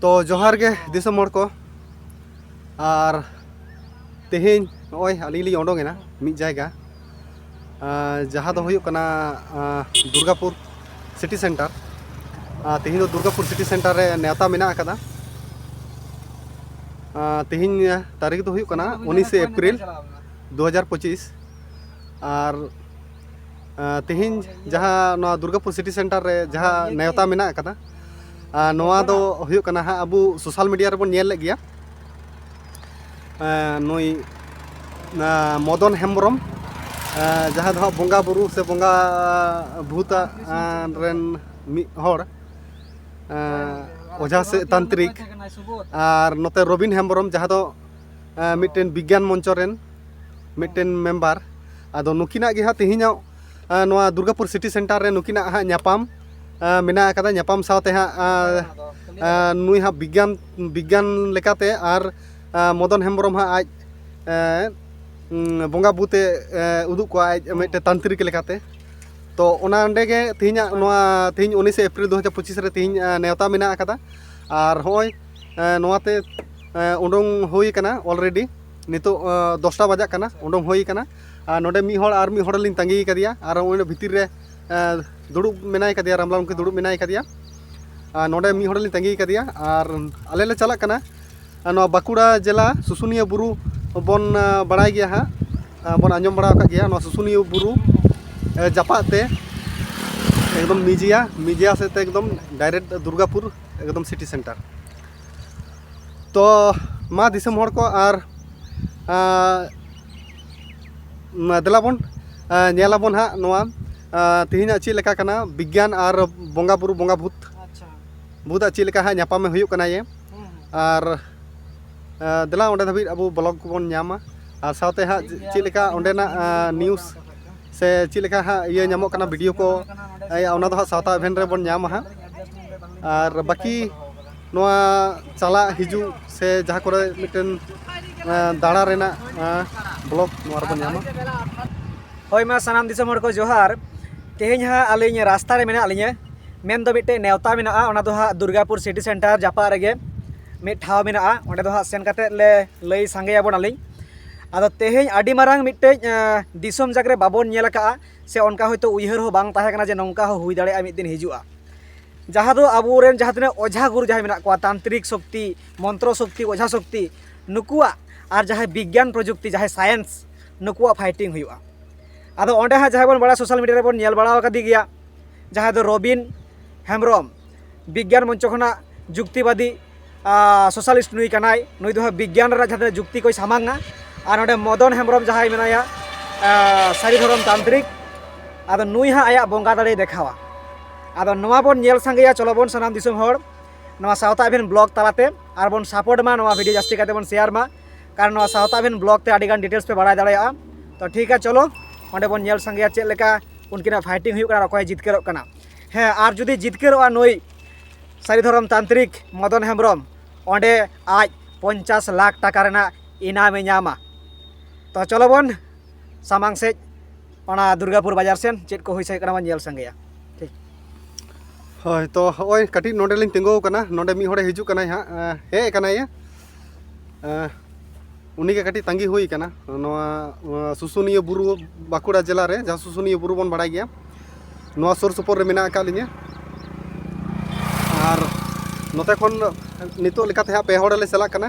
ᱛᱚ ᱡᱚᱦᱟᱨ ᱜᱮ ᱫᱤᱥᱚᱢ ᱦᱚᱲ ᱠᱚ ᱟᱨ ᱛᱮᱦᱮᱧ ᱱᱚᱜᱼᱚᱭ ᱟᱹᱞᱤᱧ ᱞᱤᱧ ᱚᱰᱚᱝ ᱮᱱᱟ ᱢᱤᱫ ᱡᱟᱭᱜᱟ ᱡᱟᱦᱟᱸ ᱫᱚ ᱦᱩᱭᱩᱜ ᱠᱟᱱᱟ ᱫᱩᱨᱜᱟᱯᱩᱨ ᱥᱤᱴᱤ ᱥᱮᱱᱴᱟᱨ ᱛᱮᱦᱮᱧ ᱫᱚ ᱫᱩᱨᱜᱟᱯᱩᱨ ᱥᱤᱴᱤ ᱥᱮᱱᱴᱟᱨ ᱨᱮ ᱱᱮᱣᱛᱟ ᱢᱮᱱᱟᱜ ᱟᱠᱟᱫᱟ ᱛᱮᱦᱮᱧ ᱛᱟᱹᱨᱤᱠᱷ ᱫᱚ ᱦᱩᱭᱩᱜ ᱠᱟᱱᱟ ᱩᱱᱤᱥᱮ ᱮᱯᱨᱤᱞ ᱫᱩ ᱦᱟᱡᱟᱨ ᱯᱚᱸᱪᱤᱥ ᱟᱨ ᱛᱮᱦᱮᱧ ᱡᱟᱦᱟᱸ ᱱᱚᱣᱟ ᱫᱩᱨᱜᱟᱯᱩᱨ ᱥᱤᱴᱤ ᱥᱮᱱᱴᱟᱨ ᱨᱮ ᱡᱟᱦᱟᱸ ᱱᱮᱣᱛᱟ ᱢᱮᱱᱟᱜ ᱟᱠᱟᱫᱟ ᱱᱚᱣᱟ ᱫᱚ ᱦᱩᱭᱩᱜ ᱠᱟᱱᱟ ᱦᱟᱸᱜ ᱟᱵᱚ ᱥᱳᱥᱟᱞ ᱢᱤᱰᱤᱭᱟ ᱨᱮᱵᱚᱱ ᱧᱮᱞ ᱞᱮᱫ ᱜᱮᱭᱟ ᱱᱩᱭ ᱢᱚᱫᱚᱱ ᱦᱮᱢᱵᱨᱚᱢ ᱡᱟᱦᱟᱸ ᱫᱚ ᱦᱟᱸᱜ ᱵᱚᱸᱜᱟ ᱵᱩᱨᱩ ᱥᱮ ᱵᱚᱸᱜᱟ ᱵᱷᱩᱛᱟ ᱨᱮᱱ ᱢᱤᱫ ᱦᱚᱲ ᱚᱡᱷᱟ ᱥᱮ ᱛᱟᱱᱛᱨᱤᱠ ᱟᱨ ᱱᱚᱛᱮ ᱨᱚᱵᱤᱱ ᱦᱮᱢᱵᱨᱚᱢ ᱡᱟᱦᱟᱸ ᱫᱚ ᱢᱤᱫᱴᱮᱱ ᱵᱤᱜᱽᱜᱟᱱ ᱢᱚᱧᱪᱚ ᱨᱮᱱ ᱢᱤᱫᱴᱮᱱ ᱢᱮᱢᱵᱟᱨ ᱟᱫᱚ ᱱᱩᱠᱤᱱᱟᱜ ᱜᱮ ᱦᱟᱸᱜ ᱛᱮᱦᱮᱧᱚᱜ ᱱᱚᱣᱟ ᱫᱩᱨᱜᱟᱯᱩᱨ ᱥᱤᱴᱤ ᱥᱮᱱᱴᱟᱨ ᱨᱮ ᱱᱩᱠᱤᱱᱟᱜ ᱦᱟᱸᱜ ᱧᱟᱯᱟᱢ ᱢᱮᱱᱟᱜ ᱟᱠᱟᱫᱟ ᱧᱟᱯᱟᱢ ᱥᱟᱶᱛᱮ ᱦᱟᱸᱜ ᱱᱩᱭ ᱦᱟᱸᱜ ᱵᱤᱜᱽᱜᱟᱱ ᱵᱤᱜᱽᱜᱟᱱ ᱞᱮᱠᱟᱛᱮ ᱟᱨ ᱢᱚᱫᱚᱱ ᱦᱮᱢᱵᱨᱚᱢ ᱦᱟᱸᱜ ᱟᱡ ᱵᱚᱸᱜᱟ ᱵᱩᱛᱮ ᱩᱫᱩᱜ ᱠᱚᱣᱟ ᱟᱡ ᱢᱤᱫᱴᱮᱱ ᱛᱟᱱᱛᱨᱤᱠ ᱞᱮᱠᱟᱛᱮ ᱛᱚ ᱚᱱᱟ ᱚᱸᱰᱮ ᱜᱮ ᱛᱮᱦᱮᱧᱟᱜ ᱱᱚᱣᱟ ᱛᱮᱦᱮᱧ ᱩᱱᱤᱥᱮ ᱮᱯᱨᱤᱞ ᱫᱩ ᱦᱟᱡᱟᱨ ᱯᱚᱸᱪᱤᱥ ᱨᱮ ᱛᱮᱦᱮᱧ ᱱᱮᱣᱛᱟ ᱢᱮᱱᱟᱜ ᱟᱠᱟᱫᱟ ᱟᱨ ᱦᱚᱸᱜᱼᱚᱭ ᱱᱚᱣᱟᱛᱮ ᱩᱰᱩᱝ ᱦᱩᱭ ᱠᱟᱱᱟ ᱚᱞᱨᱮᱰᱤ ᱱᱤᱛᱚᱜ ᱫᱚᱥᱴᱟ ᱵᱟᱡᱟᱜ ᱠᱟᱱᱟ ᱩᱰᱩᱝ ᱦᱩᱭ ᱠᱟᱱᱟ ᱟᱨ ᱱᱚᱰᱮ ᱢᱤᱫ ᱦᱚᱲ ᱟᱨ ᱢᱤᱫ ᱦᱚᱲ ᱞᱤᱧ ᱛᱟᱺᱜᱤ ᱠᱟᱫᱮᱭᱟ ᱟᱨ ᱚᱸᱰᱮ ᱵᱷᱤᱛᱤᱨ ᱨᱮ ᱫᱩᱲᱩᱵ ᱢᱮᱱᱟᱭ ᱠᱟᱫᱮᱭᱟ ᱨᱟᱢᱞᱟᱞ ᱢᱩᱠᱷᱤ ᱫᱩᱲᱩᱵ ᱢᱮᱱᱟᱭ ᱠᱟᱫᱮᱭᱟ ᱟᱨ ᱱᱚᱰᱮ ᱢᱤᱫ ᱦᱚᱲ ᱞᱤᱧ ᱛᱟᱺᱜᱤ ᱠᱟᱫᱮᱭᱟ ᱟᱨ ᱟᱞᱮ ᱞᱮ ᱪᱟᱞᱟᱜ ᱠᱟᱱᱟ ᱱᱚᱣᱟ ᱵᱟᱸᱠᱩᱲᱟ ᱡᱮᱞᱟ ᱥᱩᱥᱩᱱᱤᱭᱟᱹ ᱵᱩᱨᱩ ᱵᱚᱱ ᱵᱟᱲᱟᱭ ᱜᱮᱭᱟ ᱦᱟᱸᱜ ᱵᱚᱱ ᱟᱸᱡᱚᱢ ᱵᱟᱲᱟ ᱟᱠᱟᱫ ᱜᱮᱭᱟ ᱱᱚᱣᱟ ᱥᱩᱥᱩᱱᱤᱭᱟᱹ ᱵᱩᱨᱩ ᱡᱟᱯᱟᱜ ᱛᱮ ᱮᱠᱫᱚᱢ ᱢᱤᱡᱤᱭᱟ ᱢᱤᱡᱤᱭᱟ ᱥᱮᱫ ᱛᱮ ᱮᱠᱫᱚᱢ ᱰᱟᱭᱨᱮᱠᱴ ᱫᱩᱨᱜᱟᱯᱩᱨ ᱮᱠᱫᱚᱢ ᱥᱤᱴᱤ ᱥᱮᱱᱴᱟᱨ ᱛᱚ ᱢᱟ ᱫᱤᱥᱚᱢ ᱦᱚᱲ ᱠᱚ ᱟᱨ ᱫᱮᱞᱟ ᱵᱚᱱ ᱧᱮᱞ ᱟᱵᱚᱱ ᱦᱟᱸᱜ ᱱᱚᱣᱟ ᱛᱮᱦᱮᱧᱟᱜ ᱪᱮᱫ ᱞᱮᱠᱟ ᱠᱟᱱᱟ ᱵᱤᱜᱽᱜᱟᱱ ᱟᱨ ᱵᱚᱸᱜᱟ ᱵᱩᱨᱩ ᱵᱚᱸᱜᱟ ᱵᱷᱩᱛ ᱵᱩᱫᱟᱜ ᱪᱮᱫ ᱞᱮᱠᱟ ᱦᱟᱸᱜ ᱧᱟᱯᱟᱢᱮ ᱦᱩᱭᱩᱜ ᱠᱟᱱᱟ ᱭᱮ ᱟᱨ ᱫᱮᱞᱟ ᱚᱸᱰᱮ ᱫᱷᱟᱹᱵᱤᱡ ᱟᱵᱚ ᱵᱞᱚᱜᱽ ᱠᱚᱵᱚᱱ ᱧᱟᱢᱟ ᱟᱨ ᱥᱟᱶᱛᱮ ᱦᱟᱸᱜ ᱪᱮᱫ ᱞᱮᱠᱟ ᱚᱸᱰᱮᱱᱟᱜ ᱱᱤᱭᱩᱡᱽ ᱥᱮ ᱪᱮᱫ ᱞᱮᱠᱟ ᱦᱟᱸᱜ ᱤᱭᱟᱹ ᱧᱟᱢᱚᱜ ᱠᱟᱱᱟ ᱵᱷᱤᱰᱤᱭᱳ ᱠᱚ ᱚᱱᱟ ᱫᱚ ᱦᱟᱸᱜ ᱥᱟᱶᱛᱟ ᱤᱵᱷᱮᱱᱴ ᱨᱮᱵᱚᱱ ᱧᱟᱢᱟ ᱦᱟᱸᱜ ᱟᱨ ᱵᱟᱹᱠᱤ ᱱᱚᱣᱟ ᱪᱟᱞᱟᱜ ᱦᱤᱡᱩᱜ ᱥᱮ ᱡᱟᱦᱟᱸ ᱠᱚᱨᱮ ᱢᱤᱫᱴᱮᱱ ᱫᱟᱬᱟ ᱨᱮᱱᱟᱜ ᱵᱞᱚᱜ ᱱᱚᱣᱟ ᱨᱮᱵᱚᱱ ᱧᱟᱢᱟ ᱦᱳᱭ ᱢᱟ ᱥᱟᱱᱟᱢ ᱫᱤᱥᱚᱢ ᱦᱚᱲ ᱠᱚ ᱡᱚᱦᱟᱨ ᱛᱮᱦᱮᱧ ᱦᱟᱸᱜ ᱟᱹᱞᱤᱧ ᱨᱟᱥᱛᱟ ᱨᱮ ᱢᱮᱱᱟᱜ ᱞᱤᱧᱟᱹ ᱢᱮᱱ ᱫᱚ ᱢᱤᱫᱴᱮᱱ ᱱᱮᱣᱛᱟ ᱢᱮᱱᱟᱜᱼᱟ ᱚᱱᱟ ᱫᱚ ᱦᱟᱸᱜ ᱫᱩᱨᱜᱟᱯᱩᱨ ᱥᱤᱴᱤ ᱥᱮᱱᱴᱟᱨ ᱡᱟᱯᱟᱜ ᱨᱮᱜᱮ ᱢᱤᱫ ᱴᱷᱟᱶ ᱢᱮᱱᱟᱜᱼᱟ ᱚᱸᱰᱮ ᱫᱚ ᱦᱟᱸᱜ ᱥᱮᱱ ᱠᱟᱛᱮᱫ ᱞᱮ ᱞᱟᱹᱭ ᱥᱟᱸᱜᱮᱭᱟᱵᱚᱱᱟᱞᱤᱧ ᱟᱫᱚ ᱛᱮᱦᱮᱧ ᱟᱹᱰᱤ ᱢᱟᱨᱟᱝ ᱢᱤᱫᱴᱮᱡ ᱫᱤᱥᱚᱢ ᱡᱟᱠ ᱨᱮ ᱵᱟᱵᱚᱱ ᱧᱮᱞ ᱟᱠᱟᱫᱼᱟ ᱥᱮ ᱚᱱᱠᱟ ᱦᱳᱭᱛᱳ ᱩᱭᱦᱟᱹᱨ ᱦᱚᱸ ᱵᱟᱝ ᱛᱟᱦᱮᱸ ᱠᱟᱱᱟ ᱡᱮ ᱱᱚᱝᱠᱟ ᱦᱚᱸ ᱦᱩᱭ ᱫᱟᱲᱮᱭᱟᱜᱼᱟ ᱢᱤᱫ ᱫᱤᱱ ᱦᱤᱡᱩᱜᱼᱟ ᱡᱟᱦᱟᱸ ᱫᱚ ᱟᱵᱚ ᱨᱮᱱ ᱡᱟᱦᱟᱸ ᱛᱤᱱᱟᱹᱜ ᱚᱡᱷᱟ ᱜᱩᱨᱩ ᱡᱟᱦᱟᱸᱭ ᱢᱮᱱᱟᱜ ᱠᱚᱣᱟ ᱛᱟᱱᱛᱨᱤᱠ ᱥᱚᱠᱛᱤ ᱢᱚᱱᱛᱨᱚ ᱥᱚᱠᱛᱤ ᱚᱡᱷᱟ ᱥᱚᱠᱛᱤ ᱱᱩᱠᱩᱣᱟᱜ ᱟᱨ ᱡᱟᱦᱟᱸᱭ ᱵᱤᱜᱽᱜᱟᱱ ᱯᱨᱚᱡᱩᱠᱛᱤ ᱡᱟᱦᱟᱸᱭ ᱥᱟᱭᱮᱱᱥ ᱱᱩᱠᱩᱣᱟᱜ ᱯᱷᱟᱭᱴᱤᱝ ᱦᱩᱭᱩᱜᱼᱟ ᱟᱫᱚ ᱚᱸᱰᱮ ᱦᱟᱸᱜ ᱡᱟᱦᱟᱸᱭ ᱵᱚᱱ ᱵᱟᱲᱟᱭᱟ ᱥᱳᱥᱟᱞ ᱢᱤᱰᱤᱭᱟ ᱨᱮᱵᱚᱱ ᱧᱮᱞ ᱵᱟᱲᱟ ᱟᱠᱟᱫᱮ ᱜᱮᱭᱟ ᱡᱟᱦᱟᱸᱭ ᱫᱚ ᱨᱚᱵᱤᱱ ᱦᱮᱢᱵᱨᱚᱢ ᱵᱤᱜᱽᱜᱟᱱ ᱢᱚᱧᱪᱚ ᱠᱷᱚᱱᱟᱜ ᱡᱩᱠᱛᱤᱵᱟᱫᱤ ᱥᱳᱥᱟᱞᱤᱥᱴ ᱱᱩᱭ ᱠᱟᱱᱟᱭ ᱱᱩᱭ ᱫᱚ ᱵᱤᱜᱽᱜᱟᱱ ᱨᱮᱱᱟᱜ ᱡᱟᱦᱟᱸ ᱡᱩᱠᱛᱤ ᱠᱚᱭ ᱥᱟᱢᱟᱝᱟ ᱟᱨ ᱱᱚᱰᱮ ᱢᱚᱫᱚᱱ ᱦᱮᱢᱵᱨᱚᱢ ᱡᱟᱦᱟᱸᱭ ᱢᱮᱱᱟᱭᱟ ᱥᱟᱹᱨᱤ ᱫᱷᱚᱨᱚᱢ ᱛᱟᱱᱛᱨᱤᱠ ᱟᱫᱚ ᱱᱩᱭ ᱦᱟᱸᱜ ᱟᱭᱟᱜ ᱵᱚᱸᱜᱟ ᱫᱟᱲᱮᱭ ᱫᱮᱠᱷᱟᱣᱟ ᱟᱫᱚ ᱱᱚᱣᱟ ᱵᱚᱱ ᱧᱮᱞ ᱥᱟᱸᱜᱮᱭᱟ ᱪᱚᱞᱚ ᱵᱚᱱ ᱥᱟᱱᱟᱢ ᱫᱤᱥᱚᱢ ᱦᱚᱲ ᱱᱚᱣᱟ ᱥᱟᱶᱛᱟ ᱮᱵᱷᱮᱱ ᱵᱞᱚᱜ ᱛᱟᱞᱟᱛᱮ ᱟᱨ ᱵᱚᱱ ᱥᱟᱯᱳᱨᱴ ᱢᱟ ᱱᱚᱣᱟ ᱵᱷᱤᱰᱤᱭᱳ ᱡᱟᱹᱥᱛᱤ ᱠᱟᱛᱮ ᱵᱚᱱ ᱥᱮᱭᱟᱨ ᱢᱟ ᱠᱟᱨᱚᱱ ᱱᱚᱣᱟ ᱥᱟᱶᱛᱟ ᱮᱵᱷᱮᱱ ᱵᱞᱚᱜ ᱛᱮ ᱟᱹᱰᱤᱜᱟᱱ ᱰᱤᱴᱮᱞᱥ ᱯᱮ ᱵᱟᱲᱟᱭ ᱫᱟᱲᱮᱭᱟᱜᱼᱟ ᱛᱚ ᱴᱷᱤᱠ ᱜᱮᱭᱟ ᱪᱚᱞᱚ ᱚᱸᱰᱮ ᱵᱚᱱ ᱧᱮᱞ ᱥᱟᱸᱜᱮᱭᱟ ᱪᱮᱫ ᱞᱮᱠᱟ ᱩᱱᱠᱤᱱᱟᱜ ᱯᱷᱟᱭᱴᱤᱝ ᱦᱩᱭᱩᱜ ᱠᱟᱱᱟ ᱚᱠᱚᱭ ᱡᱤᱛᱠᱟᱹᱨᱚᱜ ᱠᱟᱱᱟ ᱦᱮᱸ ᱟᱨ ᱡᱩᱫᱤ ᱡᱤᱛᱠᱟᱹᱨᱚᱜᱼᱟ ᱱᱩᱭ ᱥᱟᱹᱨᱤ ᱫᱷᱚᱨᱚᱢ ᱛᱟᱱᱛᱨᱤᱠ ᱢᱚᱫᱚᱱ ᱦᱮᱢᱵᱨᱚᱢ ᱚᱸᱰᱮ ᱟᱡ ᱯᱚᱧᱪᱟᱥ ᱞᱟᱠᱷ ᱴᱟᱠᱟ ᱨᱮᱱᱟᱜ ᱤᱱᱟᱢᱮ ᱧᱟᱢᱟ ᱛᱚ ᱪᱚᱞᱚ ᱵᱚᱱ ᱥᱟᱢᱟᱝ ᱥᱮᱫ ᱚᱱᱟ ᱫᱩᱨᱜᱟᱯᱩᱨ ᱵᱟᱡᱟᱨ ᱥᱮᱱ ᱪᱮᱫ ᱠᱚ ᱦᱩᱭ ᱥᱟᱹᱭ ᱠᱟᱱᱟ ᱵᱚᱱ ᱧᱮᱞ ᱥᱟᱸᱜᱮᱭᱟ ᱴᱷᱤᱠ ᱦᱳᱭ ᱛᱚ ᱦᱚᱸᱜᱼᱚᱭ ᱠᱟᱹᱴᱤᱡ ᱱᱚᱰᱮᱞᱤᱧ ᱛᱤᱸᱜᱩᱣ ᱠᱟᱱᱟ ᱱᱚᱰᱮ ᱢᱤᱫ ᱦᱚᱲᱮ ᱦᱤᱡᱩᱜ ᱠᱟᱱᱟᱭ ᱦᱟᱸᱜ ᱦᱮᱡ ᱠᱟᱱᱟᱭᱮ ᱩᱱᱤᱜᱮ ᱠᱟᱹᱴᱤᱡ ᱛᱟᱺᱜᱤ ᱦᱩᱭ ᱠᱟᱱᱟ ᱱᱚᱣᱟ ᱥᱩᱥᱩᱱᱤᱭᱟᱹ ᱵᱩᱨᱩ ᱵᱟᱸᱠᱩᱲᱟ ᱡᱮᱞᱟ ᱨᱮ ᱡᱟᱦᱟᱸ ᱥᱩᱥᱩᱱᱤᱭᱟᱹ ᱵᱩᱨᱩ ᱵᱚᱱ ᱵᱟᱲᱟᱭ ᱜᱮᱭᱟ ᱱᱚᱣᱟ ᱥᱩᱨ ᱥᱩᱯᱩᱨ ᱨᱮ ᱢᱮᱱᱟᱜ ᱟᱠᱟᱫ ᱞᱤᱧᱟᱹ ᱟᱨ ᱱᱚᱛᱮ ᱠᱷᱚᱱ ᱱᱤᱛᱚᱜ ᱞᱮᱠᱟᱛᱮ ᱦᱟᱸᱜ ᱯᱮ ᱦᱚᱲ ᱞᱮ ᱪᱟᱞᱟᱜ ᱠᱟᱱᱟ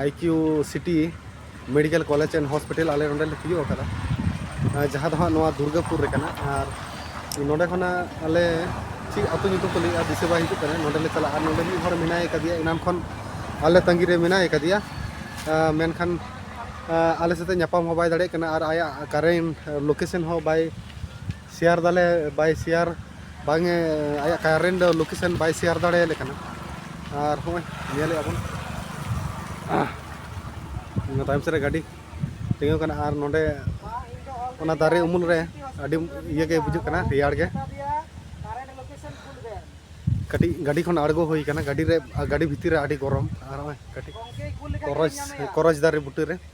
I Q City Medical college and Hospital ᱟᱞᱮ ᱱᱚᱰᱮ ᱞᱮ ᱛᱤᱭᱳᱜ ᱟᱠᱟᱫᱟ ᱡᱟᱦᱟᱸ ᱫᱚ ᱦᱟᱸᱜ ᱱᱚᱣᱟ ᱫᱩᱨᱜᱟᱯᱩᱨ ᱨᱮ ᱠᱟᱱᱟ ᱟᱨ ᱱᱚᱰᱮ ᱠᱷᱚᱱᱟᱜ ᱟᱞᱮ ᱪᱮᱫ ᱟᱹᱛᱩ ᱧᱩᱛᱩᱢ ᱠᱚ ᱞᱟᱹᱭᱮᱜᱼᱟ ᱫᱤᱥᱟᱹ ᱵᱟᱭ ᱦᱤᱡᱩᱜ ᱠᱟᱱᱟ ᱱᱚᱰᱮ ᱞᱮ ᱪᱟᱞᱟᱜᱼᱟ ᱱᱚᱰᱮ ᱢᱤᱫ ᱦᱚᱲ ᱢᱮᱱᱟᱭ ᱟᱠᱟᱫᱮᱭᱟ ᱮᱱᱟᱱ ᱠᱷᱚᱱ ᱟᱞᱮ ᱛᱟᱺᱜᱤ ᱨᱮ ᱢᱮᱱᱟᱭ ᱟᱠᱟᱫᱮᱭᱟ ᱢᱮᱱᱠᱷᱟᱱ ᱟᱞᱮ ᱥᱟᱛᱮ ᱧᱟᱯᱟᱢ ᱦᱚᱸ ᱵᱟᱭ ᱫᱟᱲᱮᱭᱟᱜ ᱠᱟᱱᱟ ᱟᱨ ᱟᱭᱟᱜ ᱠᱟᱨᱮᱱᱴ ᱞᱳᱠᱮᱥᱚᱱ ᱦᱚᱸ ᱵᱟᱭ ᱥᱮᱭᱟᱨ ᱫᱟᱞᱮ ᱵᱟᱭ ᱥᱮᱭᱟᱨ ᱵᱟᱝ ᱮ ᱟᱭᱟᱜ ᱠᱟᱨᱮᱱᱴ ᱞᱳᱠᱮᱥᱚᱱ ᱵᱟᱭ ᱥᱮᱭᱟᱨ ᱫᱟᱲᱮᱭᱟᱞᱮ ᱠᱟᱱᱟ ᱟᱨ ᱦᱚᱸᱜᱼᱚᱭ ᱧᱮᱞᱮᱫᱼᱟ ᱵᱚᱱ ᱚᱱᱟ ᱛᱟᱭᱚᱢ ᱥᱮᱫ ᱨᱮ ᱜᱟᱹᱰᱤ ᱛᱤᱸᱜᱩ ᱠᱟᱱᱟ ᱟᱨ ᱱᱚᱰᱮ ᱚᱱᱟ ᱫᱟᱨᱮ ᱩᱢᱩᱞ ᱨᱮ ᱟᱹᱰᱤ ᱤᱭᱟᱹ ᱜᱮ ᱵᱩᱡᱩᱜ ᱠᱟᱱᱟ ᱨᱮᱭᱟᱲ ᱜᱮ ᱠᱟᱹᱴᱤᱡ ᱜᱟᱹᱰᱤ ᱠᱷᱚᱱ ᱟᱬᱜᱚ ᱦᱩᱭ ᱠᱟᱱᱟ ᱜᱟᱹᱰᱤ ᱨᱮ ᱜᱟᱹᱰᱤ ᱵᱷᱤᱛᱤᱨ ᱨᱮ ᱟᱹᱰᱤ ᱜᱚᱨᱚᱢ ᱟᱨ ᱱᱚᱜᱼᱚᱭ ᱠᱟᱹᱴᱤᱡ ᱠᱚᱨᱚᱪ ᱠᱚᱨᱚᱪ ᱫᱟᱨᱮ ᱵᱩᱴᱟᱹ ᱨᱮ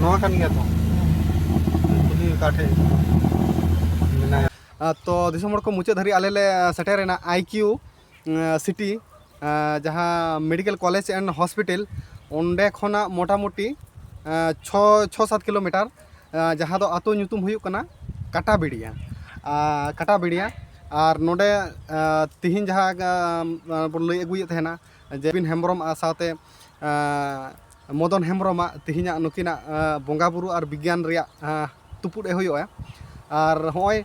ᱱᱚᱣᱟ ᱠᱟᱱ ᱜᱮᱭᱟ ᱛᱚ ᱠᱩᱞᱤ ᱚᱠᱟ ᱴᱷᱮᱡ ᱢᱮᱱᱟᱭᱟ ᱛᱚ ᱫᱤᱥᱚᱢ ᱦᱚᱲ ᱠᱚ ᱢᱩᱪᱟᱹᱫ ᱫᱷᱟᱹᱨᱤᱡ ᱟᱞᱮ ᱞᱮ ᱥᱮᱴᱮᱨᱮᱱᱟ ᱟᱭ ᱠᱤᱭᱩ ᱥᱤᱴᱤ ᱡᱟᱦᱟᱸ ᱢᱮᱰᱤᱠᱮᱞ ᱠᱚᱞᱮᱡᱽ ᱮᱱᱰ ᱦᱚᱥᱯᱤᱴᱟᱞ ᱚᱸᱰᱮ ᱠᱷᱚᱱᱟᱜ ᱢᱚᱴᱟᱢᱩᱴᱤ ᱪᱷᱚ ᱪᱷᱚ ᱥᱟᱛ ᱠᱤᱞᱳᱢᱤᱴᱟᱨ ᱡᱟᱦᱟᱸ ᱫᱚ ᱟᱛᱳ ᱧᱩᱛᱩᱢ ᱦᱩᱭᱩᱜ ᱠᱟᱱᱟ ᱠᱟᱴᱟ ᱵᱮᱲᱤᱭᱟ ᱠᱟᱴᱟ ᱵᱮᱲᱤᱭᱟ ᱟᱨ ᱱᱚᱰᱮ ᱛᱤᱦᱤᱧ ᱡᱟᱦᱟᱸ ᱵᱚᱱ ᱞᱟᱹᱭ ᱟᱹᱜᱩᱭᱮᱫ ᱛᱟᱦᱮᱱᱟ ᱡᱮᱵᱤᱱ ᱦᱮᱢᱵᱨᱚᱢ ᱟᱜ ᱥᱟᱶᱛᱮ ᱢᱚᱫᱚᱱ ᱦᱮᱢᱵᱨᱚᱢ ᱟᱜ ᱛᱤᱦᱤᱧᱟᱜ ᱱᱩᱠᱤᱱᱟᱜ ᱵᱚᱸᱜᱟ ᱵᱳᱨᱳ ᱟᱨ ᱵᱤᱜᱽᱜᱟᱱ ᱨᱮᱭᱟᱜ ᱛᱩᱯᱩᱫ ᱮ ᱦᱩᱭᱩᱜᱼᱟ ᱟᱨ ᱦᱚᱜᱼᱚᱭ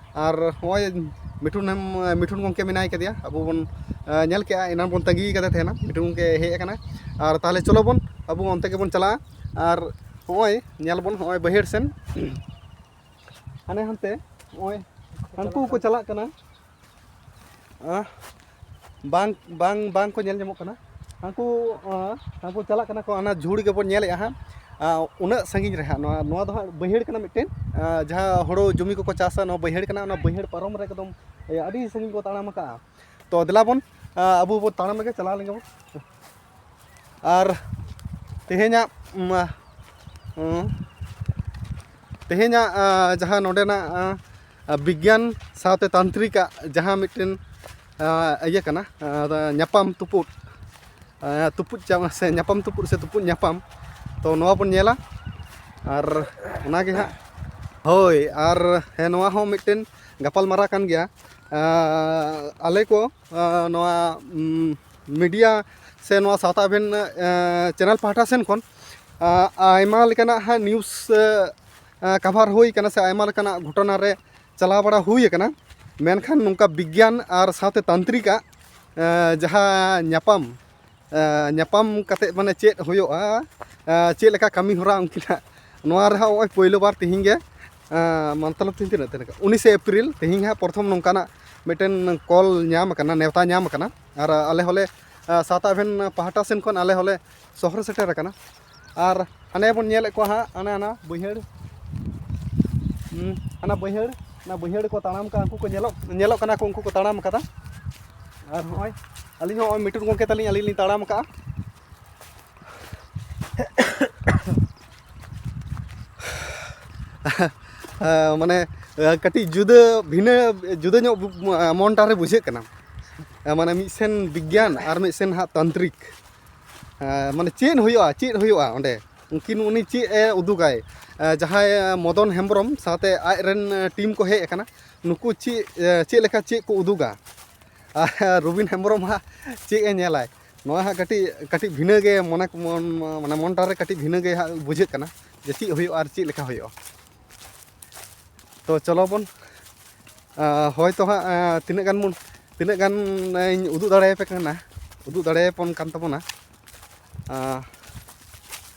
ᱟᱨ ᱱᱚᱜᱼᱚᱭ ᱢᱤᱴᱷᱩᱱ ᱦᱮᱢ ᱢᱤᱴᱷᱩᱱ ᱜᱚᱢᱠᱮ ᱢᱮᱱᱟᱭ ᱠᱟᱫᱮᱭᱟ ᱟᱵᱚ ᱵᱚᱱ ᱧᱮᱞ ᱠᱮᱜᱼᱟ ᱮᱱᱟᱱ ᱵᱚᱱ ᱛᱟᱺᱜᱤ ᱠᱟᱫᱮ ᱛᱟᱦᱮᱱᱟ ᱢᱤᱴᱷᱩᱱ ᱜᱚᱢᱠᱮ ᱦᱮᱡ ᱠᱟᱱᱟᱭ ᱟᱨ ᱛᱟᱦᱚᱞᱮ ᱪᱚᱞᱚ ᱵᱚᱱ ᱟᱵᱚ ᱚᱱᱛᱮ ᱜᱮᱵᱚᱱ ᱪᱟᱞᱟᱜᱼᱟ ᱟᱨ ᱱᱚᱜᱼᱚᱭ ᱧᱮᱞ ᱵᱚᱱ ᱱᱚᱜᱼᱚᱭ ᱵᱟᱹᱭᱦᱟᱹᱲ ᱥᱮᱱ ᱦᱟᱱᱮ ᱦᱟᱱᱛᱮ ᱱᱚᱜᱼᱚᱭ ᱦᱟᱹᱱᱠᱩ ᱠᱚ ᱪᱟᱞᱟᱜ ᱠᱟᱱᱟ ᱵᱟᱝ ᱵᱟᱝ ᱵᱟᱝ ᱠᱚ ᱧᱮᱞ ᱧᱟᱢᱚᱜ ᱠᱟᱱᱟ ᱦᱟᱹᱱᱠᱩ ᱦᱟᱹᱱᱠᱩ ᱪᱟᱞᱟᱜ ᱠᱟᱱᱟ ᱠᱚ ᱚᱱᱟ ᱡᱷᱩᱲ ᱜᱮᱵᱚᱱ ᱧᱮᱞᱮᱜᱼᱟ ᱦᱟᱸᱜ ᱩᱱᱟᱹᱜ ᱥᱟᱺᱜᱤᱧ ᱨᱮ ᱦᱟᱸᱜ ᱱᱚᱣᱟ ᱱᱚᱣᱟ ᱫᱚ ᱦᱟᱸᱜ ᱵᱟᱹᱭᱦᱟᱹᱲ ᱠᱟᱱᱟ ᱢᱤᱫᱴᱮᱱ ᱡᱟᱦᱟᱸ ᱦᱳᱲᱳ ᱡᱚᱢᱤ ᱠᱚᱠᱚ ᱪᱟᱥᱟ ᱱᱚᱣᱟ ᱵᱟᱹᱭᱦᱟᱹᱲ ᱠᱟᱱᱟ ᱚᱱᱟ ᱵᱟᱹᱭᱦᱟᱹᱲ ᱯᱟᱨᱚᱢ ᱨᱮ ᱮᱠᱫᱚᱢ ᱟᱹᱰᱤ ᱥᱟᱺᱜᱤᱧ ᱠᱚ ᱛᱟᱲᱟᱢ ᱠᱟᱜᱼᱟ ᱛᱚ ᱫᱮᱞᱟ ᱵᱚᱱ ᱟᱵᱚ ᱵᱚᱱ ᱛᱟᱲᱟᱢ ᱞᱮᱜᱮ ᱪᱟᱞᱟᱣ ᱞᱮᱱ ᱜᱮᱵᱚᱱ ᱟᱨ ᱛᱮᱦᱮᱧᱟᱜ ᱛᱮᱦᱮᱧᱟᱜ ᱡᱟᱦᱟᱸ ᱱᱚᱰᱮᱱᱟᱜ ᱵᱤᱜᱽᱜᱟᱱ ᱥᱟᱶᱛᱮ ᱛᱟᱱᱛᱨᱤᱠᱟᱜ ᱡᱟᱦᱟᱸ ᱢᱤᱫᱴᱮᱱ ᱤᱭᱟᱹ ᱠᱟᱱᱟ ᱧᱟᱯᱟᱢ ᱛᱩᱯᱩᱫ ᱛᱩᱯᱩᱫ ᱪᱟᱢ ᱥᱮ ᱧᱟᱯᱟᱢ ᱛᱩᱯᱩᱫ ᱥᱮ ᱛᱩᱯᱩᱫ ᱧᱟᱯᱟᱢ ᱛᱚ ᱱᱚᱣᱟ ᱵᱚᱱ ᱧᱮᱞᱟ ᱟᱨ ᱚᱱᱟᱜᱮ ᱦᱟᱸᱜ ᱦᱳᱭ ᱟᱨ ᱦᱮᱸ ᱱᱚᱣᱟ ᱦᱚᱸ ᱢᱤᱫᱴᱮᱱ ᱜᱟᱯᱟᱞᱢᱟᱨᱟᱣ ᱠᱟᱱ ᱜᱮᱭᱟ ᱟᱞᱮ ᱠᱚ ᱱᱚᱣᱟ ᱢᱤᱰᱤᱭᱟ ᱥᱮ ᱱᱚᱣᱟ ᱥᱟᱶᱛᱟ ᱟᱵᱷᱮᱱ ᱪᱮᱱᱮᱞ ᱯᱟᱦᱴᱟ ᱥᱮᱱ ᱠᱷᱚᱱ ᱟᱭᱢᱟ ᱞᱮᱠᱟᱱᱟᱜ ᱦᱟᱸᱜ ᱱᱤᱭᱩᱡᱽ ᱠᱟᱵᱷᱟᱨ ᱦᱩᱭ ᱠᱟᱱᱟ ᱥᱮ ᱟᱭᱢᱟ ᱞᱮᱠᱟᱱᱟᱜ ᱜᱷᱚᱴᱚᱱᱟ ᱨᱮ ᱪᱟᱞᱟᱣ ᱵᱟᱲᱟ ᱦᱩᱭ ᱠᱟᱱᱟ ᱢᱮᱱᱠᱷᱟᱱ ᱱᱚᱝᱠᱟ ᱵᱤᱜᱽᱜᱟᱱ ᱟᱨ ᱥᱟᱶᱛᱮ ᱛᱟᱱᱛᱨᱤᱠ ᱟᱜ ᱡᱟᱦᱟᱸ ᱧᱟᱯᱟᱢ ᱧᱟᱯᱟᱢ ᱠᱟᱛᱮ ᱢᱟᱱᱮ ᱪᱮᱫ ᱦᱩᱭᱩᱜᱼᱟ ᱪᱮᱫ ᱞᱮᱠᱟ ᱠᱟᱹᱢᱤ ᱦᱚᱨᱟ ᱩᱱᱠᱤᱱᱟᱜ ᱱᱚᱣᱟ ᱨᱮᱦᱚᱸ ᱱᱚᱜᱼᱚᱭ ᱯᱳᱭᱞᱳ ᱵᱟᱨ ᱛᱮᱦᱮᱧ ᱜᱮ ᱢᱚᱛᱞᱚᱵ ᱛᱤᱧ ᱛᱤᱱᱟᱹᱜ ᱛᱟᱦᱮᱸ ᱠᱟᱱᱟ ᱩᱱᱤᱥᱮ ᱮᱯᱨᱤᱞ ᱛᱮᱦᱮᱧ ᱦᱟᱸᱜ ᱯᱨᱚᱛᱷᱚᱢ ᱱᱚᱝᱠᱟᱱᱟᱜ ᱢᱤᱫᱴᱮᱱ ᱠᱚᱞ ᱧᱟᱢ ᱟᱠᱟᱱᱟ ᱱᱮᱣᱛᱟ ᱧᱟᱢ ᱟᱠᱟᱱᱟ ᱟᱨ ᱟᱞᱮ ᱦᱚᱸᱞᱮ ᱥᱟᱶᱛᱟ ᱮᱵᱷᱮᱱ ᱯᱟᱦᱴᱟ ᱥᱮᱱ ᱠᱷᱚᱱ ᱟᱞᱮ ᱦᱚᱸᱞᱮ ᱥᱚᱦᱚᱨ ᱥᱮᱴᱮᱨ ᱟᱠᱟᱱᱟ ᱟᱨ ᱦᱟᱱᱮ ᱵᱚᱱ ᱧᱮᱞᱮᱫ ᱠᱚᱣᱟ ᱦᱟᱸᱜ ᱦᱟᱱᱮ ᱦᱟᱱᱟ ᱵᱟᱹᱭᱦᱟᱹᱲ ᱦᱟᱱᱟ ᱵᱟᱹᱭᱦᱟᱹᱲ ᱚᱱᱟ ᱵᱟᱹᱭᱦᱟᱹᱲ ᱠᱚ ᱛᱟᱲᱟᱢ ᱠᱟᱜᱼᱟ ᱩᱱᱠᱩ ᱠᱚ ᱧᱮᱞᱚᱜ ᱧᱮᱞᱚᱜ ᱠᱟᱱᱟ ᱠᱚ ᱩᱱᱠᱩ ᱠᱚ ᱛᱟᱲᱟᱢ ᱠᱟᱫᱟ ᱟᱨ ᱱᱚᱜᱼᱚᱭ ᱟᱹᱞᱤᱧ ᱦᱚᱸ ᱱᱚᱜᱼᱚᱭ ᱢᱤᱴᱩᱱ ᱜᱚᱢᱠᱮ ᱛᱟᱹᱞᱤᱧ ᱟᱹᱞᱤᱧ ᱞᱤᱧ ᱛᱟᱲᱟᱢ ᱠᱟᱜᱼᱟ ᱢᱟᱱᱮ ᱠᱟᱹᱴᱤᱡ ᱡᱩᱫᱟᱹ ᱵᱷᱤᱱᱟᱹ ᱡᱩᱫᱟᱹ ᱧᱚᱜ ᱢᱚᱱᱴᱟᱨᱮ ᱵᱩᱡᱷᱟᱹᱜ ᱠᱟᱱᱟ ᱢᱟᱱᱮ ᱢᱤᱫ ᱥᱮᱱ ᱵᱤᱜᱽᱜᱟᱱ ᱟᱨ ᱢᱤᱫ ᱥᱮᱱ ᱦᱟᱸᱜ ᱛᱟᱱᱛᱨᱤᱠ ᱢᱟᱱᱮ ᱪᱮᱫ ᱦᱩᱭᱩᱜᱼᱟ ᱪᱮᱫ ᱦᱩᱭᱩᱜᱼᱟ ᱚᱸᱰᱮ ᱩᱱᱠᱤᱱ ᱩᱱᱤ ᱪᱮᱫ ᱮ ᱩᱫᱩᱜᱟᱭ ᱡᱟᱦᱟᱸᱭ ᱢᱚᱫᱚᱱ ᱦᱮᱢᱵᱨᱚᱢ ᱥᱟᱶᱛᱮ ᱟᱡ ᱨᱮᱱ ᱴᱤᱢ ᱠᱚ ᱦᱮᱡ ᱟᱠᱟᱱᱟ ᱱᱩᱠᱩ ᱪᱮᱫ ᱪᱮᱫ ᱞᱮᱠᱟ ᱪᱮᱫ ᱠᱚ ᱩᱫᱩᱜᱟ ᱟᱨ ᱨᱚᱵᱤᱱ ᱦᱮᱢᱵᱨᱚᱢ ᱦᱟᱸᱜ ᱪᱮᱫ ᱮ ᱧᱮᱞᱟᱭ ᱱᱚᱣᱟ ᱦᱟᱸᱜ ᱠᱟᱹᱴᱤᱡ ᱠᱟᱹᱴᱤᱡ ᱵᱷᱤᱱᱟᱹ ᱜᱮ ᱢᱚᱱᱮ ᱢᱟᱱᱮ ᱢᱚᱱᱴᱟᱨᱮ ᱠᱟᱹᱴᱤᱡ ᱵᱷᱤᱱᱟᱹ ᱜᱮ ᱦᱟᱸᱜ ᱵᱩᱡᱷᱟᱹᱜ ᱠᱟᱱᱟ ᱡᱮ ᱪᱮᱫ ᱦᱩᱭᱩᱜᱼᱟ ᱟᱨ ᱪᱮᱫ ᱞᱮᱠᱟ ᱦᱩᱭᱩᱜᱼᱟ ᱛᱚ ᱪᱚᱞᱚ ᱵᱚᱱ ᱦᱚᱭᱛᱚ ᱦᱟᱸᱜ ᱛᱤᱱᱟᱹᱜ ᱜᱟᱱ ᱵᱚᱱ ᱛᱤᱱᱟᱹᱜ ᱜᱟᱱ ᱤᱧ ᱩᱫᱩᱜ ᱫᱟᱲᱮᱭᱟᱯᱮ ᱠᱟᱱᱟ ᱩᱫᱩᱜ ᱫᱟᱲᱮᱭᱟᱯᱚᱱ ᱠᱟᱱ ᱛᱟᱵᱚᱱᱟ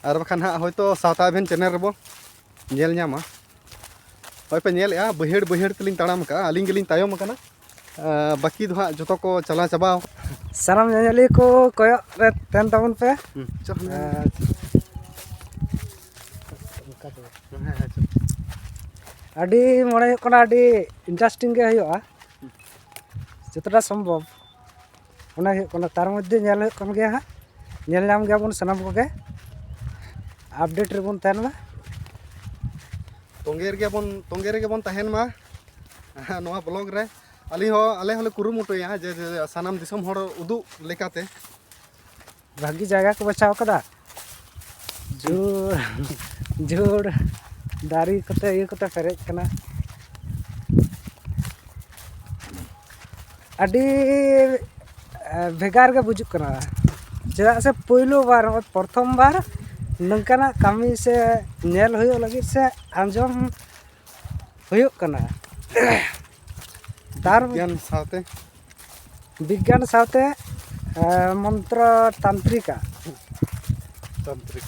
ᱟᱨ ᱵᱟᱠᱷᱟᱱ ᱦᱟᱸᱜ ᱦᱚᱭᱛᱚ ᱥᱟᱶᱛᱟ ᱟᱵᱷᱮᱱ ᱪᱮᱱᱮᱞ ᱨᱮᱵᱚ ᱧᱮᱞ ᱧᱟᱢᱟ ᱦᱚᱭᱯᱮ ᱧᱮᱞᱮᱜᱼᱟ ᱵᱟᱹᱭᱦᱟᱹᱲ ᱵᱟᱹᱭᱦᱟᱹᱲ ᱛᱮᱞᱤᱧ ᱛᱟᱲᱟᱢ ᱠᱟᱜᱼᱟ ᱟᱹᱞᱤᱧ ᱜᱮᱞᱤᱧ ᱛᱟᱭᱚᱢ ᱠᱟᱱᱟ ᱵᱟᱹᱠᱤ ᱫᱚ ᱦᱟᱸᱜ ᱡᱚᱛᱚ ᱠᱚ ᱪᱟᱞᱟᱣ ᱪᱟᱵᱟᱣ ᱥᱟᱱᱟᱢ ᱧᱮᱧᱮᱞᱤᱭᱟᱹ ᱠᱚ ᱠᱚᱭᱚᱜ ᱨᱮ ᱛᱟᱦᱮᱱ ᱛᱟᱵᱚᱱ ᱯᱮ ᱟᱹᱰᱤ ᱢᱚᱱᱮ ᱦᱩᱭᱩᱜ ᱠᱟᱱᱟ ᱟᱹᱰᱤ ᱤᱱᱴᱟᱨᱮᱥᱴᱤᱝ ᱜᱮ ᱦᱩᱭᱩᱜᱼᱟ ᱡᱚᱛᱚᱴᱟ ᱥᱚᱢᱵᱷᱚᱵ ᱚᱱᱟ ᱦᱩᱭᱩᱜ ᱠᱟᱱᱟ ᱛᱟᱨ ᱢᱚᱫᱽᱫᱷᱮ ᱧᱮᱞ ᱦᱩᱭᱩᱜ ᱠᱟᱱ ᱜᱮᱭᱟ ᱦᱟᱸᱜ ᱧᱮᱞ ᱧᱟᱢ ᱜᱮᱭᱟᱵᱚᱱ ᱥᱟᱱᱟᱢ ᱠᱚᱜᱮ ᱟᱯᱰᱮᱴ ᱨᱮᱵᱚᱱ ᱛᱟᱦᱮᱱ ᱢᱟ ᱛᱚᱸᱜᱮ ᱨᱮᱜᱮ ᱵᱚᱱ ᱛᱚᱸᱜᱮ ᱨᱮᱜᱮ ᱵᱚᱱ ᱛᱟᱦᱮᱱ ᱢᱟ ᱱᱚᱣᱟ ᱵᱞᱚᱜ ᱨᱮ ᱟᱹᱞᱤᱧ ᱦᱚᱸ ᱟᱞᱮ ᱦᱚᱸᱞᱮ ᱠᱩᱨᱩᱢᱩᱴᱩᱭᱟ ᱡᱮ ᱥᱟᱱᱟᱢ ᱫᱤᱥᱚᱢ ᱦᱚᱲ ᱩᱫᱩᱜ ᱞᱮᱠᱟᱛᱮ ᱵᱷᱟᱹᱜᱤ ᱡᱟᱭᱜᱟ ᱠᱚ ᱵᱟᱪᱷᱟᱣ ᱠᱟᱫᱟ ᱡᱳᱨ ᱡᱳᱨ ᱫᱟᱨᱮ ᱠᱚᱛᱮ ᱤᱭᱟᱹ ᱠᱚᱛᱮ ᱯᱮᱨᱮᱡ ᱠᱟᱱᱟ ᱟᱹᱰᱤ ᱵᱷᱮᱜᱟᱨ ᱜᱮ ᱵᱩᱡᱩᱜ ᱠᱟᱱᱟ ᱪᱮᱫᱟᱜ ᱥᱮ ᱯᱳᱭᱞᱳ ᱵᱟᱨ ᱱᱚᱜᱼᱚᱭ ᱯᱨᱚᱛᱷᱚᱢ ᱵᱟᱨ ᱱᱚᱝᱠᱟᱱᱟᱜ ᱠᱟᱹᱢᱤ ᱥᱮ ᱧᱮᱞ ᱦᱩᱭᱩᱜ ᱞᱟᱹᱜᱤᱫ ᱥᱮ ᱟᱸᱡᱚᱢ ᱦᱩᱭᱩᱜ ᱠᱟᱱᱟ ᱫᱟᱨ ᱵᱤᱜᱽᱜᱟᱱ ᱥᱟᱶᱛᱮ ᱵᱤᱜᱽᱜᱟᱱ ᱥᱟᱶᱛᱮ ᱢᱚᱱᱛᱨᱚ ᱛᱟᱱᱛᱨᱤᱠᱟ ᱛᱟᱱᱛᱨᱤᱠ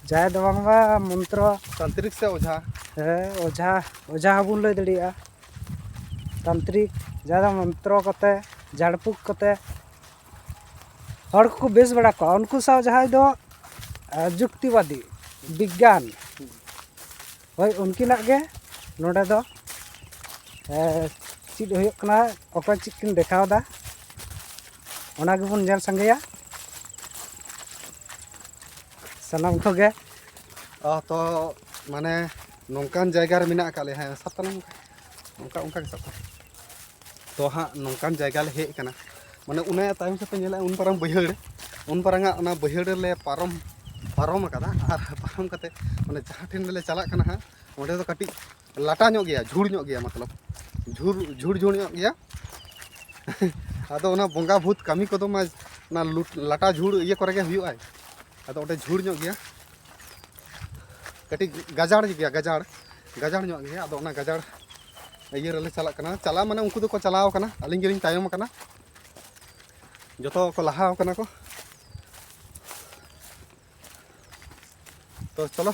ᱡᱟᱭ ᱫᱚ ᱵᱟᱝᱢᱟ ᱢᱚᱱᱛᱨᱚ ᱛᱟᱱᱛᱨᱤᱠ ᱥᱮ ᱚᱡᱷᱟ ᱦᱮᱸ ᱚᱡᱷᱟ ᱚᱡᱷᱟ ᱦᱚᱸᱵᱚᱱ ᱞᱟᱹᱭ ᱫᱟᱲᱮᱭᱟᱜᱼᱟ ᱛᱟᱱᱛᱨᱤᱠ ᱡᱟᱦᱟᱸ ᱫᱚ ᱢᱚᱱᱛᱨᱚ ᱠᱚᱛᱮ ᱡᱷᱟᱲᱯᱷᱩᱸᱠ ᱠᱚᱛᱮ ᱦᱚᱲ ᱠᱚᱠᱚ ᱵᱮᱥ ᱵᱟᱲᱟ ᱠᱚᱣᱟ ᱩᱱᱠᱩ ᱥᱟᱶ ᱡᱟᱦᱟᱸᱭ ᱫᱚ ᱡᱩᱠᱛᱤᱵᱟᱫᱤ ᱵᱤᱜᱽᱜᱟᱱ ᱦᱳᱭ ᱩᱱᱠᱤᱱᱟᱜ ᱜᱮ ᱱᱚᱰᱮ ᱫᱚ ᱪᱮᱫ ᱦᱩᱭᱩᱜ ᱠᱟᱱᱟ ᱚᱠᱚᱭ ᱪᱮᱫ ᱠᱤᱱ ᱫᱮᱠᱷᱟᱣᱫᱟ ᱚᱱᱟ ᱜᱮᱵᱚᱱ ᱧᱮᱞ ᱥᱟᱸᱜᱮᱭᱟ ᱥᱟᱱᱟᱢ ᱠᱚᱜᱮ ᱛᱚ ᱢᱟᱱᱮ ᱱᱚᱝᱠᱟᱱ ᱡᱟᱭᱜᱟ ᱨᱮ ᱢᱮᱱᱟᱜ ᱟᱠᱟᱫ ᱞᱮᱭᱟ ᱦᱮᱸ ᱥᱟᱵ ᱛᱟᱞᱟᱝ ᱚᱱᱠᱟ ᱚᱱᱠᱟ ᱜᱮ ᱥᱟᱵ ᱛᱟᱞᱟᱝ ᱛᱚ ᱦᱟᱸᱜ ᱱᱚᱝᱠᱟᱱ ᱡᱟᱭᱜᱟ ᱞᱮ ᱦᱮᱡ ᱟᱠᱟᱱᱟ ᱢᱟᱱᱮ ᱚᱱᱟ ᱛᱟᱭᱚᱢ ᱥᱮᱫ ᱯᱮ ᱧᱮᱞᱟ ᱩᱱ ᱯᱟᱨᱟᱝ ᱵᱟᱹᱭᱦᱟᱹᱲ ᱩᱱ ᱯᱟᱨᱟᱝᱟᱜ ᱚᱱᱟ ᱵᱟᱹᱭᱦᱟᱹᱲ ᱨᱮᱞᱮ ᱯᱟᱨᱚᱢ ᱯᱟᱨᱚᱢ ᱟᱠᱟᱫᱟ ᱟᱨ ᱯᱟᱨᱚᱢ ᱠᱟᱛᱮ ᱢᱟᱱᱮ ᱡᱟᱦᱟᱸ ᱴᱷᱮᱱ ᱞᱮ ᱪᱟᱞᱟᱜ ᱠᱟᱱᱟ ᱦᱟᱸᱜ ᱚᱸᱰᱮ ᱫᱚ ᱠᱟᱹᱴᱤᱡ ᱞᱟᱴᱟ ᱧᱚᱜ ᱜᱮᱭᱟ ᱡᱷᱩᱲ ᱧᱚᱜ ᱜᱮᱭᱟ ᱢᱚᱛᱞᱚᱵ ᱡᱷᱩᱲ ᱡᱷᱩᱲ ᱡᱷᱩᱲ ᱧᱚᱜ ᱜᱮᱭᱟ ᱟᱫᱚ ᱚᱱᱟ ᱵᱚᱸᱜᱟ ᱵᱷᱩᱛ ᱠᱟᱹᱢᱤ ᱠᱚᱫᱚ ᱢᱟ ᱚᱱᱟ ᱞᱟᱴᱟ ᱡᱷᱩᱲ ᱤᱭᱟᱹ ᱠᱚᱨᱮ ᱜᱮ ᱦᱩᱭᱩᱜᱼᱟ ᱟᱫᱚ ᱚᱸᱰᱮ ᱡᱷᱩᱲ ᱧᱚᱜ ᱜᱮᱭᱟ ᱠᱟᱹᱴᱤᱡ ᱜᱟᱡᱟᱲ ᱜᱮᱭᱟ ᱜᱟᱡᱟᱲ ᱜᱟᱡᱟᱲ ᱧᱚᱜ ᱜᱮᱭᱟ ᱟᱫᱚ ᱚᱱᱟ ᱜᱟᱡᱟᱲ ᱤᱭᱟᱹ ᱨᱮᱞᱮ ᱪᱟᱞᱟᱜ ᱠᱟᱱᱟ ᱪᱟᱞᱟᱣ ᱢᱟᱱᱮ ᱩᱱᱠᱩ ᱫᱚᱠᱚ ᱪᱟᱞᱟᱣ ᱠᱟᱱᱟ ᱟᱹᱞᱤᱧ ᱜᱮᱞᱤᱧ ᱛᱟᱭᱚᱢ ᱠᱟᱱᱟ ᱡᱚᱛᱚ ᱠᱚ ᱞᱟᱦᱟ ᱠᱟᱱᱟ ᱠᱚ ᱛᱚ ᱪᱚᱞᱚ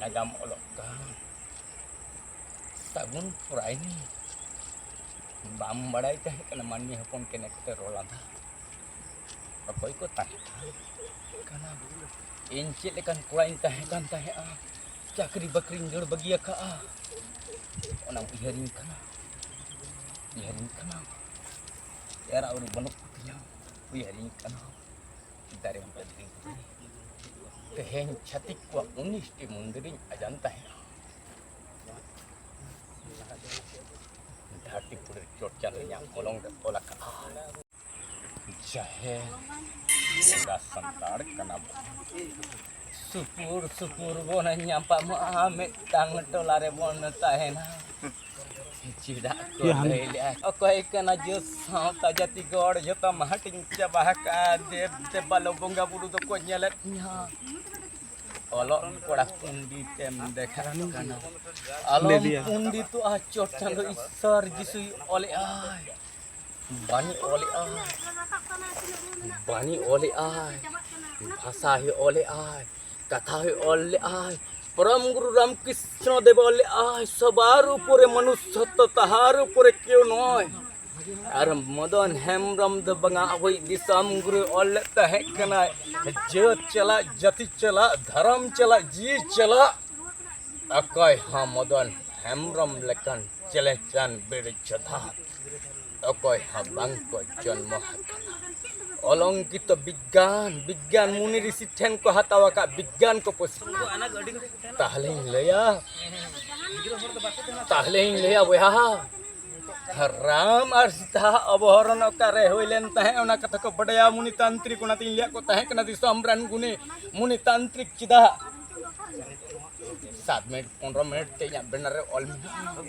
ᱱᱟᱜᱟᱢ ᱚᱞᱚᱜ ᱠᱟᱱ ᱥᱟᱹᱜᱩᱱ ᱯᱚᱨᱟᱭᱱᱤ ᱵᱟᱢ ᱵᱟᱲᱟᱭ ᱛᱟᱦᱮᱸ ᱠᱟᱱᱟ ᱢᱟᱹᱱᱢᱤ ᱦᱚᱯᱚᱱ ᱠᱮᱱᱮ ᱠᱚᱛᱮ ᱨᱚᱲ ᱞᱟᱸᱫᱟ ᱚᱠᱚᱭ ᱠᱚ ᱛᱟᱦᱮᱸ ᱠᱟᱱᱟ ᱤᱧ ᱪᱮᱫ ᱞᱮᱠᱟᱱ ᱠᱚᱲᱟᱧ ᱛᱟᱦᱮᱸ ᱠᱟᱱ ᱛᱟᱦᱮᱸᱜᱼᱟ ᱪᱟᱹᱠᱨᱤ ᱵᱟᱹᱠᱨᱤᱧ ᱫᱟᱹᱲ ᱵᱟᱹᱜᱤ ᱟᱠᱟᱜᱼᱟ ᱚᱱᱟ ᱩᱭᱦᱟᱹᱨᱤᱧ ᱠᱟᱱᱟ ᱩᱭᱦᱟᱹᱨᱤᱧ ᱠᱟᱱᱟ ᱮᱨᱟ ᱩᱨᱩ ᱵᱟᱹᱱᱩᱜ ᱠᱚᱛᱤᱧᱟ ᱩᱭᱦᱟᱹᱨᱤᱧ ᱠᱟᱱᱟ ᱫᱟᱨᱮ ᱵᱟᱹᱫᱽᱨᱤ ᱛᱮᱦᱮᱧ ᱪᱷᱟᱹᱛᱤᱠ ᱠᱚᱣᱟᱜ ᱩᱱᱤᱥᱴᱤ ᱢᱚᱱᱫᱤᱨᱤᱧ ᱟᱡᱟᱱ ᱛᱟᱦᱮᱸᱱᱟ ᱫᱷᱟᱹᱨᱛᱤ ᱯᱩᱨᱤ ᱪᱚᱨᱪᱟ ᱨᱮᱭᱟᱜ ᱢᱚᱞᱚᱝ ᱨᱮ ᱚᱞ ᱟᱠᱟᱫᱼᱟ ᱡᱟᱦᱮᱨ ᱵᱚᱸᱜᱟ ᱥᱟᱱᱛᱟᱲ ᱠᱟᱱᱟ ᱵᱚ ᱥᱩᱯᱩᱨ ᱥᱩᱯᱩᱨ ᱵᱚᱱ ᱧᱟᱯᱟᱢᱚᱜᱼᱟ ᱢᱤᱫᱴᱟᱝ ᱴᱚᱞᱟ ᱨᱮᱵᱚᱱ ᱛᱟᱦᱮᱱᱟ ᱪᱮᱫᱟᱜ ᱠᱚ ᱞᱟᱹᱭ ᱞᱮᱫᱼᱟ ᱚᱠᱚᱭ ᱠᱟᱱᱟ ᱡᱮ ᱥᱟᱶᱛᱟ ᱡᱟᱹᱛᱤ ᱜᱚᱲ ᱡᱚᱛᱚᱢ ᱦᱟᱹᱴᱤᱧ ᱪᱟᱵᱟ ᱟᱠᱟᱫᱼᱟ ᱫᱮᱵ ᱫᱮᱵᱟᱞᱳ ᱵᱚᱸᱜᱟ ᱵᱩᱨᱩ ᱫᱚᱠᱚ ᱧᱮᱞᱮᱫ ᱛᱤᱧᱟᱹ ᱚᱞᱚᱜ ᱠᱚᱲᱟ ᱯᱚᱱᱰᱤᱛ ᱮᱢ ᱫᱮᱠᱷᱟᱜ ᱠᱟᱱᱟ ᱟᱞᱚᱢ ᱯᱚᱱᱰᱤᱛᱚᱜᱼᱟ ᱪᱚᱴ ᱪᱟᱸᱫᱳ ᱤᱥᱥᱚᱨ ᱡᱤᱥᱩᱭ ᱚᱞᱮᱫᱼᱟᱭ ᱵᱟᱹᱧ ᱚᱞᱮᱜᱼᱟ ᱵᱟᱹᱧ ᱚᱞᱮᱜᱼᱟ ᱵᱷᱟᱥᱟ ᱦᱚᱸ ᱚᱞᱮᱜᱼᱟ ᱠᱟᱛᱷᱟ ᱦᱚᱸ ᱚᱞ ᱞᱮᱜᱼᱟᱭ ᱯᱚᱨᱚᱢ ᱜᱩᱨᱩ ᱨᱟᱢᱠᱨᱤᱥᱱᱚ ᱫᱮᱵ ᱚᱞ ᱞᱮᱜᱼᱟᱭ ᱥᱚᱵᱟᱨ ᱩᱯᱚᱨᱮ ᱢᱚᱱᱩᱥᱥᱚᱛᱛᱚ ᱛᱟᱦᱟᱨ ᱩᱯᱚᱨᱮ ᱠᱮᱣ ᱱᱚᱭ ᱟᱨ ᱢᱚᱫᱚᱱ ᱦᱮᱢᱵᱨᱚᱢ ᱫᱚ ᱵᱟᱝᱟ ᱟᱵᱚᱭᱤᱡ ᱫᱤᱥᱚᱢ ᱜᱩᱨᱩ ᱚᱞ ᱞᱮᱫ ᱛᱟᱦᱮᱸ ᱠᱟᱱᱟᱭ ᱡᱟᱹᱛ ᱪᱟᱞᱟᱜ ᱡᱟᱹᱛᱤ ᱪᱟᱞᱟᱜ ᱫᱷᱚᱨᱚᱢ ᱪᱟᱞᱟᱜ ᱡᱤᱣᱤ ᱪᱟᱞᱟᱜ ᱚᱠᱚᱭ ᱦᱚᱸ ᱢᱚᱫᱚᱱ ᱦᱮᱢᱵᱨᱚᱢ ᱞᱮᱠᱟᱱ ᱪᱮᱞᱮᱧᱪᱟᱱ ᱵᱮᱲᱮ ᱪᱚᱫᱷᱟᱛ ᱚᱠᱚᱭ ᱦᱚᱸ ᱵᱟᱝ ᱠᱚ ᱡᱚᱱᱢᱚ ᱟᱠᱟᱱᱟ ᱚᱞᱚᱝᱠᱤᱛᱚ ᱵᱤᱜᱽᱜᱟᱱ ᱵᱤᱜᱽᱜᱟᱱ ᱢᱩᱱᱤ ᱨᱤᱥᱤ ᱴᱷᱮᱱ ᱠᱚ ᱦᱟᱛᱟᱣ ᱟᱠᱟᱫ ᱵᱤᱜᱽᱜᱟᱱ ᱠᱚ ᱠᱚ ᱛᱟᱦᱞᱮᱧ ᱞᱟᱹᱭᱟ ᱛᱟᱦᱞᱮᱧ ᱞᱟᱹᱭᱟ ᱵᱚᱭᱦᱟ ᱨᱟᱢ ᱟᱨ ᱥᱤᱛᱟ ᱚᱵᱚᱦᱚᱨᱚᱱ ᱚᱠᱟᱨᱮ ᱦᱩᱭ ᱞᱮᱱ ᱛᱟᱦᱮᱸ ᱚᱱᱟ ᱠᱟᱛᱷᱟ ᱠᱚ ᱵᱟᱰᱟᱭᱟ ᱢᱩᱱᱤ ᱛᱟᱱᱛᱨᱤᱠ ᱚᱱᱟᱛᱤᱧ ᱞᱟᱹᱭᱟᱫ ᱠᱚ ᱛᱟᱦᱮᱸ ᱠᱟᱱᱟ ᱫᱤᱥᱚᱢ ᱨᱮᱱ ᱜᱩᱱᱤ ᱢᱩᱱᱤ ᱛᱟᱱᱛᱨᱤᱠ ᱪᱮᱫᱟᱜ ᱥᱟᱛ ᱢᱤᱱᱤᱴ ᱯᱚᱱᱨᱚ ᱢᱤᱱᱤᱴ ᱛᱮ ᱤᱧᱟᱹᱜ ᱵᱮᱱᱟᱨ ᱨᱮ ᱚᱞ ᱢᱮᱱᱟᱜᱼᱟ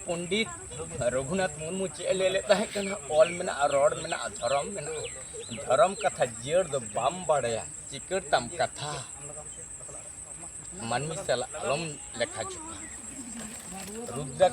ᱯᱚᱱᱰᱤᱛ ᱨᱚᱜᱷᱩᱱᱟᱛᱷ ᱢᱩᱨᱢᱩ ᱪᱮᱫ ᱮ ᱞᱟᱹᱭ ᱞᱮᱫ ᱛᱟᱦᱮᱸ ᱠᱟᱱᱟ ᱚᱞ ᱢᱮᱱᱟᱜᱼᱟ ᱨᱚᱲ ᱢᱮᱱᱟᱜᱼᱟ ᱫᱷᱚᱨᱚᱢ ᱢᱮᱱᱟᱜᱼᱟ ᱫᱷᱚᱨᱚᱢ ᱠᱟᱛᱷᱟ ᱡᱤᱭᱟᱹᱲ ᱫᱚ ᱵᱟᱢ ᱵᱟᱲᱟᱭᱟ ᱪᱤᱠᱟᱹᱲ ᱛᱟᱢ ᱠᱟᱛᱷᱟ ᱢᱟᱹᱱᱢᱤ ᱥᱟᱞᱟᱜ ᱟᱞᱚᱢ ᱞᱮᱠᱷᱟ ᱡᱚᱠᱷᱟ ᱨᱩᱫᱨᱟᱠ